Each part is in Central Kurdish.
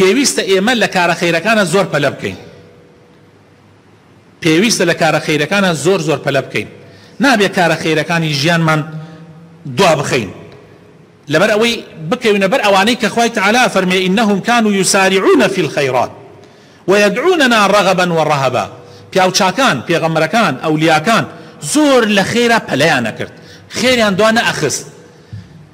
پێویستە ئێمە لە کارە خەیرەکانە زۆر پەلە بکەین پێویستە لە کارە خەیرەکانە زۆر زۆر پەلە بکەین نابێت کارە خەیرەکانی ژیانمان دوا بخەین لەبەر ئەوەی بکەوینە بەر ئەوانەی کە خوای تعالا فەرمێ ئینهم کان و یوساریعونە فی الخیرات وەیەدعونەنا ڕەغەبا وەڕەهەبا پیاو چاکان پێغەمبەرەکان ئەولیاکان زۆر لە خێرا پەلیانە کرد خێریان دوا نەئەخست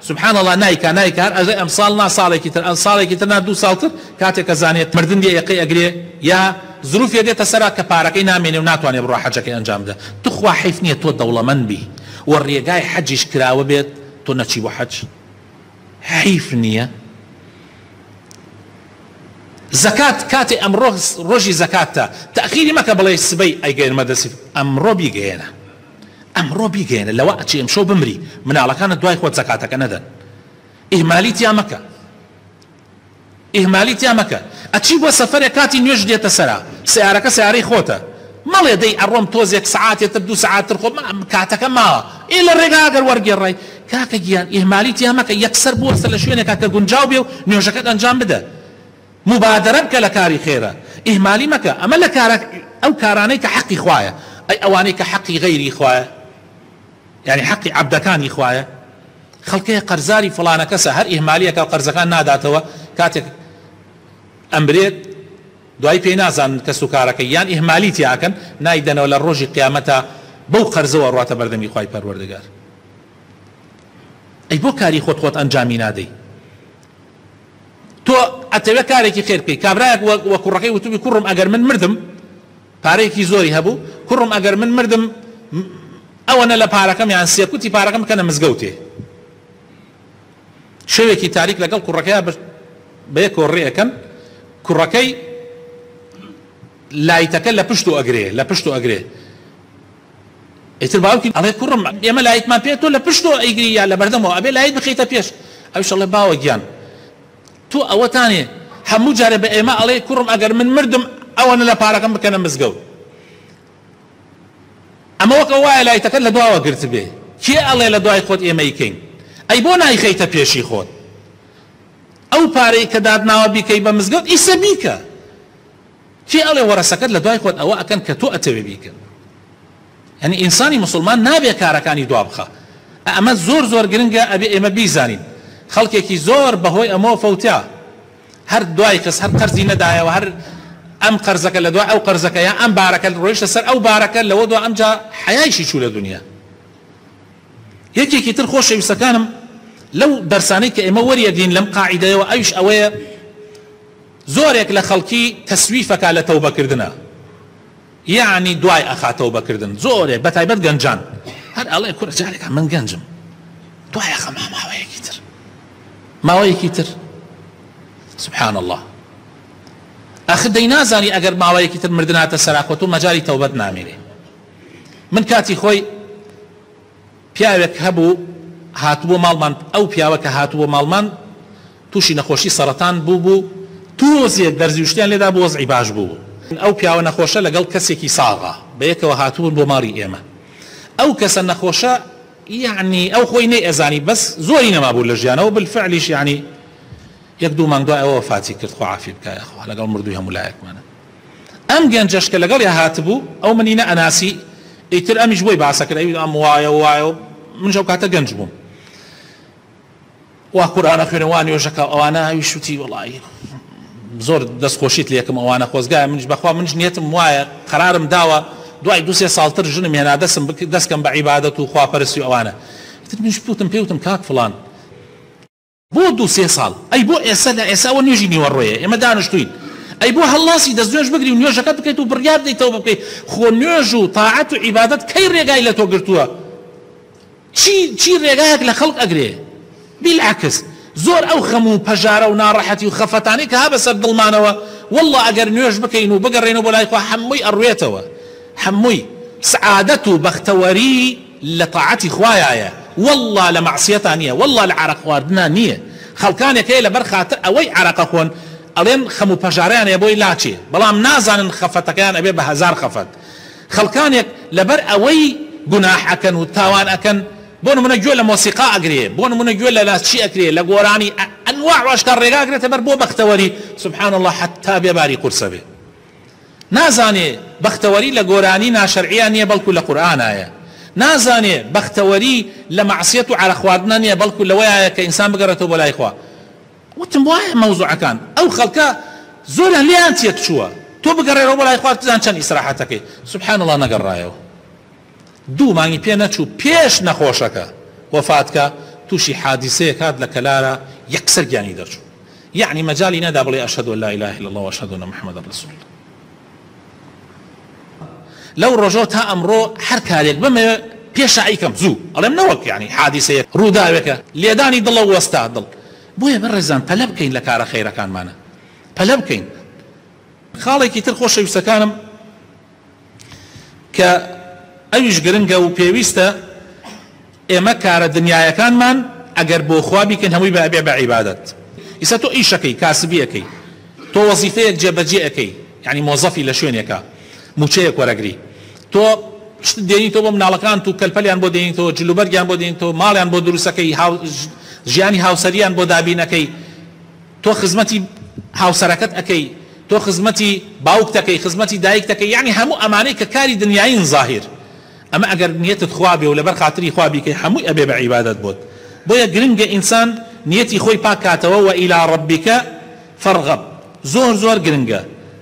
سبحان اللە نایکا نایکا هەر ئەژەی ئەمساڵ نا ساڵێکی تر ئەن ساڵێکی تر نا دوو ساڵ تر کاتێک ئەزانێ مردن دێ یەقەی ئەگرێ یا زروفێ دێتە سەرا کە پارەکەی نامێنێ و ناتوانێ بڕا حەجەکەی ئەنجام بدە توخوا حەیف نیە تۆ دەوڵەمەند بی و ڕێگای حەجیش کراوە بێت تۆ نەچی بۆ حەج حەیف نیە زەکات کاتێ ئەمڕۆ ڕۆژی زەکاتتە تەئخیری مەکە بڵێی سبەی ئەیگەیەنمە دەسی ئەمڕۆ بیگەیەنە. ئەمڕۆ بیگەیەنە لەوە ئەچی ئەمشەو بمری مناڵەکانت دوای خۆت زەکاتەکە نەدەن ئیهمالی تیا مەکە ئیهمالی تیا مەکە ئەچی بۆ سەفەرێک کاتی نوێژ دێتە سەرا سیارەکە سیارەی خۆتە مەڵێ دەی ئەڕۆم تۆزێک سعاتێ تر دوو سعات تر خۆ کاتەکە ماوە ئێ لە ڕێگا گەر وەرگێڕای کاکە گیان ئیهمالی تیا مەکە یەکسەر بوەستە لە شوێنێکا کە گونجاو بێ و نوێژەکەت ئەنجام بدە موبادەرە بکە لە کاری خێرا ئیهمالی مەکە ئەمە لە کارە ئەو کارانەی کە حەقی خوایە ئەی ئەوانەی کە حەقی غەیری خوایە یانی حەقی عەبدەکانی خوایە خەڵکەیە قەرزاری فڵانە کەسە هەر ئیهمالیەکە و قەرزەکان ناداتەوە کاتێک ئەمرێت دوای پێی نازانن کەس و کارەکە یان ئیهمالی تیاکەن نایدەنەوە لە ڕۆژی قیامەتا بەو قەرزەوە ڕاتە بەردەمی خوای پەروەردگار ئەی بۆ کاری خۆت خۆت ئەنجامی نادەی تۆ ئەتەوێ کارێکی خێر بکەی کابرایەک وە وە کوڕەکەی وتبی کوڕم ئەگەر من مردم پارەیەکی زۆری هەبوو کوڕم ئەگەر من مردم ئەوەنە لە پارەکەم یان سێکوتی پارەکەم بکەنە مزگەوتێ شەوێکی تاریک لەگەڵ کوڕەکەی بەیە کۆڕێەکەن کوڕەکەی لایتەکە لە پشت و ئەگرێ لە پشت و ئەگرێ ئیتر باوکی ئەڵێ کوڕم ئێمە لایتمان پێ تۆ لە پشتەوە ئەیگری یا لە بەردەمەوە ئەبێ لایت بخەیتە پێش ئەویش ئەڵێ باوە گیان تۆ ئەوەتانێ هەموو جارێ بە ئێمە ئەڵێ کوڕم ئەگەر من مردم ئەوەنە لە پارەکەم بکەنە مزگەوت ئەمە وەکە وایە لایتەکە لە دواوە گرتبێ کێ ئەڵێ لە دوای خۆت ئێمەی کەین ئەی بۆ نایخەیتە پێشی خۆت ئەو پارەی کە داتناوە بیکەی بە مزگەوت ئیسە بیکە کێ ئەڵێ وەرەسەکەت لەدوای خۆت ئەوە ئەکەن کە تۆ ئەتەوێ بیکەن یانی ئینسانی موسڵمان نابێ کارەکانی دوا بخا ئەمە زۆر زۆر گرنگە ئەبێ ئێمە بیزانین خەڵکێکی زۆر بەهۆی ئەمەوە فەوتا هەر دوای خست هەر قەرزی نەدایەوە هەر ئەم قەرزەکە لە دوای ئەو قەرزەکە یا ئەم بارەکە ڕۆیشتە سەر ئەو بارەکە لەوە دو ئەمجا حەیایشی چوو لە دنیا یەکێکی تر خۆشەویستەکانم لەو دەرسانەی کە ئێمە وەریەگرین لەم قاعیدەیەوە ئەویش ئەوەیە زۆرێک لە خەڵکی تەسویفەکا لە تەوبە کردنە یەعنی دوای ئەخا تەوبە کردن زۆرێک بە تایبەت گەنجان هەر ئەڵێ کورە جارێکا من گەنجم دوای ئەخا ماماوەیەکی تر ماوەیەکی تر سبحان الله ئەخ دەی نازانی ئەگەر ماوەیەکی تر مردناتە سەراکۆت و مەجاری تەوبەت نامێنێ من کاتی خۆی پیاوێک هەبوو هاتبووە ماڵمان ئەو پیاوە کە هاتبووە ماڵمان تووشی نەخۆشی سەڕەتان بووبوو تۆزێک دەرزی و شتیان لێدابوو وەزعی باش بوو ئەو پیاوە نەخۆشە لەگەڵ کەسێکی ساغا بەیەکەوە هاتبوون بۆ ماڵی ئێمە ئەو کەسە نەخۆشە یەعنی ئەو خۆی نەیئەزانی بەس زۆری نەمابوو لە ژیانەوە بلفعلیش یەعنی یەک دوو مانگ دوای ئەوە وەفاتی کرد خوا عافی بکا یاخوا لەگەڵ مردووی هەموو لایەکمانە. ئەم گەنجەش کە لەگەڵیا هاتبوو ئەو منی نە ئەناسی ئیتر ئەمیش بۆی باسەکرد ئەوی ئەم وایە و وایە و منش ئەو کاتە گەنج بووم وا قورئان ئەخوێنێ وا نوێژەکە ئەوانە ئەوی شوتی وەڵایی زۆر دەست خۆشیت لێکم ئەوانە خۆزگایە منش بەخوا منش نیەتم وایە قەرارم داوە دوای دو سێ ساڵتر ژنم هێنا دەسم بک دەستکەم بە عیبادەت و خواپەرستی و ئەوانە ئیتر منش پوتم پێوتم کاک فڵان بۆ دوو سێ ساڵ؟ ئەی بۆ ئێستا نا ئێستا ئەوە نوێژی نیوەڕۆیە ئێمە دانشتووین ئەی بۆ هەڵناسی دەست نوێژ بگری و نوێژەکەت بکەیت و بڕیار بدەیت تەوبە بکەیت خۆ نوێژ و تاعەت و عیبادەت کەی ڕێگای لە تۆ گرتووە چی چی ڕێگایەک لە خەڵک ئەگرێ بیلعکس زۆر ئەو خەم و پەژارە و ناڕەحەتی و خەفەتانەی کە ها بەسەر دڵمانەوە والله ئەگەر نوێژ بکەین و بگەڕێنەوە بۆ لای خوا هەمووی ئەڕوێتەوە هەمووی سعادەت و بەختەوەری لە تاعەتی خوایایە واللە لە مەعسیەتا نیە واللە لە عارەق خواردنا نیە خەڵکانێک هەیە لەبەر خاتر ئەوەی عارەقە خۆن ئەڵێن خەم و پەژارەیان هەیە بۆی لاچێ بەڵام نازانن خەفەتەکەیان ئەبێ بە هەزار خەفەت خەڵکانێک لەبەر ئەوەی گوناح ئەکەن و تاوان ئەکەن بۆ نمونە گوێ لە مۆسیقا ئەگرێ بۆ نمونە گوێ لە لە چی ئەکرێ لە گۆرانی ئەنواع و ئەشکال ڕێگا ئەگرێتە بەر بۆ بەختەوەری سبحان اللە حەتا بێ باری قورسە بێ نازانێ بەختەوەری لە گۆرانی ناشەرعییا نیە بەڵکو لە قورئانایە نازانێ بەختەوەری لە مەعسیەت و عەرەق خواردنا نیە بەڵکو لەوەیایە کە ئینسان بگەڕێتەوە بۆ لای خوا وتم وایە مەوزوعەکان ئەو خەڵکە زۆریان لێیان تێکچووە تۆ بگەڕێرەوە بۆ لای خوا بزان چەند ئیسراحەتەکەی سبحان اللە نەگەڕایەوە. دوو مانگی پێ نەچوو پێش نەخۆشەکە وەفاتکا تووشی حادیسەیەک هات لە کەلارا یەکسەر گیانی دەرچوو یەعنی مەجالی نەدا بڵێ اشهد ان لااله الا اللە واشهد ان محمدا رسول اللە لەو ڕۆژەوە تا ئەمڕۆ هەر کارێک بمەوێ پێشایی کەم زوو ئەڵێم نەوەک یعنی حادیسەیە ڕووداوێکە لێدانی دڵە وەستا دڵ بۆیە بەڕێزان پەلە بکەین لە کارە خەیرەکانمانە پەلە بکەین خاڵێکی تر خۆشەویستەکانم کە ئەویش گرنگە و پێویستە ئێمە کارە دنیایەکانمان ئەگەر بۆ خوا بیکەین هەمووی بە ئەبێ بە عیبادەت ئیستا تۆ ئیشەکەی کاسبی ئەکەی تۆ وەزیفەیەک جێبەجێ ئەکەی یعنی مۆزەفی لە شوێنێکە موچەیەک وەرەگری تۆ شت دێنی تۆ بۆ مناڵەکان و کەلپەلیان بۆ دێنی تۆ جلوبەرگیان بۆ دێنی تۆ ماڵیان بۆ دروستەکەی ژیانی هاوسەریان بۆ دابینەکەی تۆ خزمەتی هاوسەرەکەت ئەکەی تۆ خزمەتی باوکتەکەی خزمەتی دایکتەکەی یەعنی هەموو ئەمانەی کە کاری دنیایین زاهیر ئەمە ئەگەر نیەتت خوا بێ و لەبەر خاتری خوا بیکەی هەمووی ئەبێ بە عیبادەت بۆت بۆیە گرنگە ئینسان نیەتی خۆی پاک کاتەوە وە الی ربک فارغب زۆر زۆر گرنگە